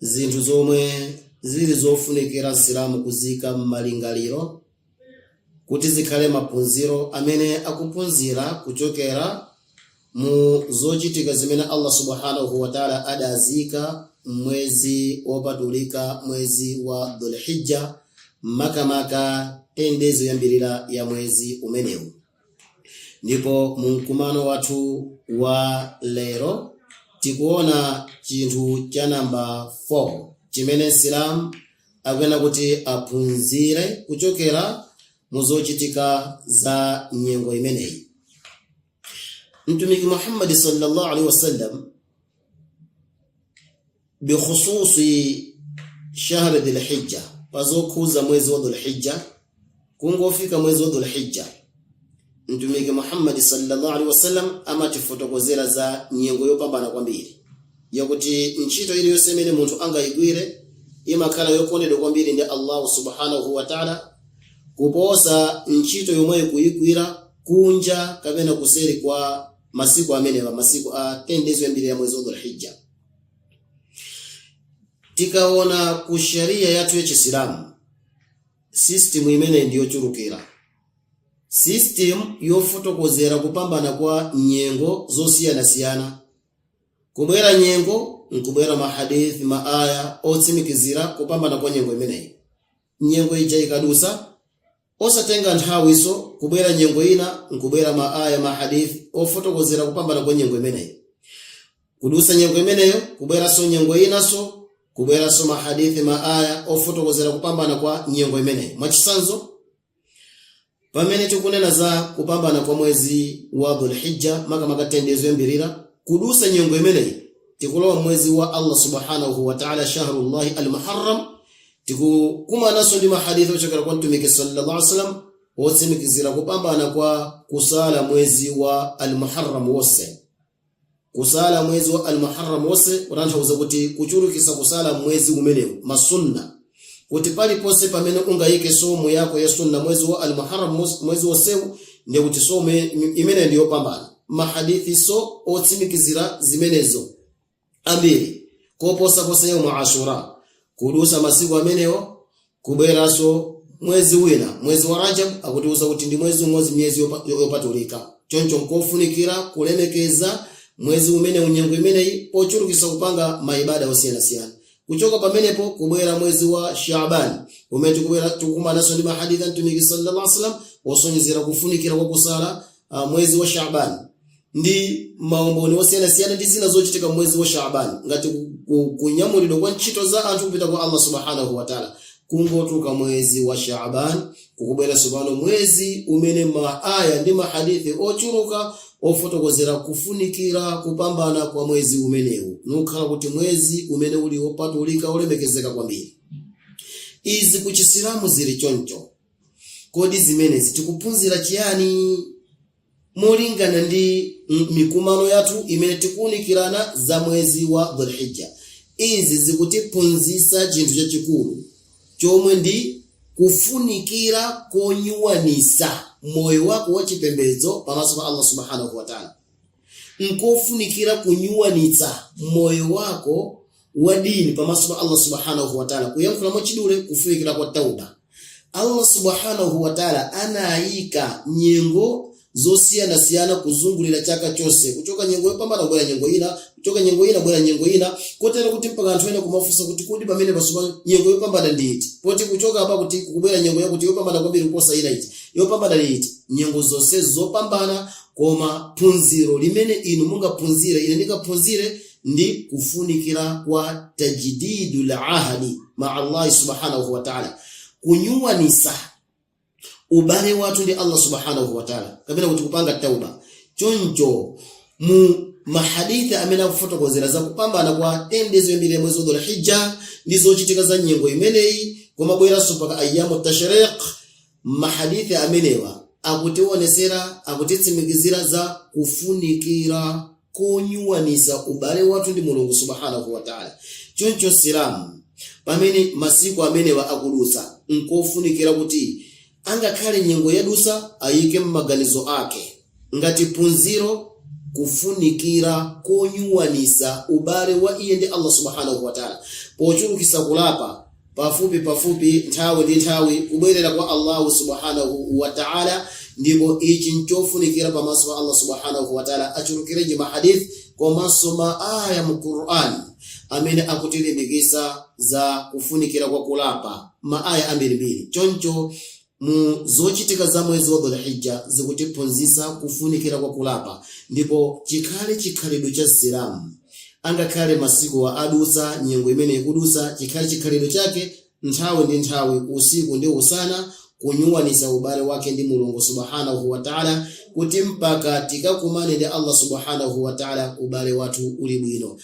zinthu zomwe zili zofunikira msilamu kuziika m'malingaliro kuti zikhale maphunziro amene akuphunzira kuchokera mu zochitika zimene allah subhanahu wataala adaziika m'mwezi wopatulika mwezi wa dhulhijja makamaka 10 days yoyambirira ya mwezi umenewu Ndipo mu mkumano wathu wa lero tikuona chinthu cha namba 4 chimene Msilamu akuyenera kuti aphunzire kuchokera mu zochitika za nyengo imeneyi. Mtumiki Muhammad sallallahu alaihi wasallam bikhususi shahri dhilhijja pazokhuza mwezi wa dhulhijja kungofika mwezi wa dhulhijja mtumiki muhammadi sallallahu alaihi wasallam amatifotokozera za nyengo yopambana kwambiri yakuti ntchito iliyonse imene munthu angayigwire imakhala yokondedwa kwambiri ndi allahu subhanahu wa taala kuposa ntchito yomweyo kuyigwira kunja kapena kuseri kwa masiku amenewa masiku a 10 days oyambirira ya mwezi wa dhulhijja tikaona ku sharia yathu ya chisilamu system imeneyi ndi yochulukira system yofotokozera kupambana kwa nyengo zosiyanasiyana kubwera nyengo nkubwera mahadithi maaya otsimikizira kupambana kwa nyengo imeneyi nyengo ija ikadusa osatenga nthawiso kubwera nyengo ina nkubwera ma aya ma hadith ofotokozera kupambana kwa nyengo imeneyi kudusa nyengo imeneyo kubweraso nyengo inaso kubweraso ma hadith ma aya ofotokozera kupambana kwa nyengo imeneyi mwachisanzo Pamene tikunena za kupambana kwa mwezi wa Dhul-Hijjah, makamaka 10 days yoyambirira, kudusa nyengo imeneyi tikulowa mwezi wa Allah subhanahu wa ta'ala, shahrullahi al-Muharram. Tikukumananso ndi mahadithi ochokera kwa Mtumiki sallallahu alaihi wasallam otsimikizira kupambana kwa kusala mwezi wa al-Muharram wonse. kusala mwezi wa almuharram wonse kutanthauza kuti kuchulukisa kusala mwezi umenewu masunna kuti paliponse pamene ungayike swaumu yako ya sunna mwezi wa almuharram mos- mwezi wonsewu ndiye kuti swaumu imeneyo ndi yopambana mahadithi so otsimikizira zimenezo ambiri koposaposa yaumu ashura kudusa masiku amenewo kubweranso mwezi wina mwezi wa rajab akutiuza kuti ndi mwezi umodzi m'miyezi yopa- yo- yopatulika choncho nkofunikira kulemekeza mwezi umenewu nyengo imeneyi pochulukisa kupanga maibada osiyanasiyana kuchoka pamenepo kubwera mwezi wa shaban umene tikubwera tikukumananso ndi mahadith a mtumiki sallallahu alaihi wasallam osonyezera kufunikira kwa kusala ah, mwezi wa shaban ndi maumboni osiyanasiyana ndi zina zochitika mwezi wa Shaaban ngati ku- ku- kunyamulidwa kwa ntchito za anthu kupita kwa Allah subhanahu wa ta'ala kungotuluka mwezi wa Shaaban kukubwera tsopano mwezi umene maaya ndi mahadithi ochuluka ofotokozera kufunikira kupambana kwa mwezi umenewu nukhala kuti mwezi umene uli wopatulika olemekezeka kwambiri izi ku chisilamu zili choncho kodi zimenezi tikuphunzira chiyani molingana ndi m- mikumano yathu imene tikuunikirana za mwezi wa dhulhijja izi zikutiphunzitsa chinthu chachikulu chomwe ndi kufunikira konyuwanisa moyo wako wa chipembedzo pamaso pa allah subhanahu wataala nkofunikira kunyuwanisa moyo wako wa dini pamaso pa Allah subhanahu wa ta'ala kuyankhula mwachidule kufunikira kwa tauba Allah subhanahu wa ta'ala anayika nyengo zosiyanasiyana kuzungulira chaka chonse kuchoka nyengo yopambana kubwera nyengo ina kuchoka nyengo ina kubwera nyengo ina kotero kuti mpaka anthu ena kumafunsa kuti kodi pamene pasupa nyengo yopambana ndi iti poti kuchoka apa kuti kubwera nyengo yakuti yopambana kwambiri kuposa ina iti yopambana ndi iti nyengo zonse zopambana koma phunziro limene inu mungaphunzire ine ndingaphunzire ndi kufunikira kwa tajdidul ahdi maa Allahi subhanahu wa ta'ala kunyuwanisa ubale wathu ndi Allah subhanahu wa ta'ala kapena kuti kupanga tauba choncho mu mahadithi amene akufotokozera za kupambana kwa 10 days yoyambira ya mwezi wa Dhulhijja ndi zochitika za nyengo imeneyi komabweranso mpaka ayyamu tashriq Mahadithi amenewa akutiwonesera, akutitsimikizira za kufunikira konyuwanisa ubale wathu ndi Mulungu Subhanahu wa Ta'ala. Choncho Msilamu pamene masiku amenewa akudutsa, nkofunikira kuti angakhale nyengo yadusa ayike mmaganizo ake Ngati phunziro, Kufunikira konyuwanisa ubale wa iye ndi Allah Subhanahu wa Ta'ala pochulukisa kulapa pafupi pafupi, nthawi ndi nthawi, kubwerera kwa Allahu Subhanahu wa Ta'ala, ndipo ichi nchofunikira pamaso pa Allah Subhanahu wa Ta'ala. Achulukirenji ma hadith komanso ma aya mu Qur'an amene akutilimbikisa za kufunikira kwa kulapa, ma aya ambirimbiri. Choncho mu zochitika za mwezi wa Dhul-Hijja zikutiphunzitsa kufunikira kwa kulapa ndipo chikhale chikhalidwe cha Msilamu angakhale masikuwa adutsa nyengo imene ikudutsa chikhale chikhalidwe chake nthawi ndi nthawi usiku ndi usana kunyuwanisa ubale wake ndi mulungu subhanahu wa taala kuti mpaka tikakumane ndi allah subhanahu wa taala ubale wathu uli bwino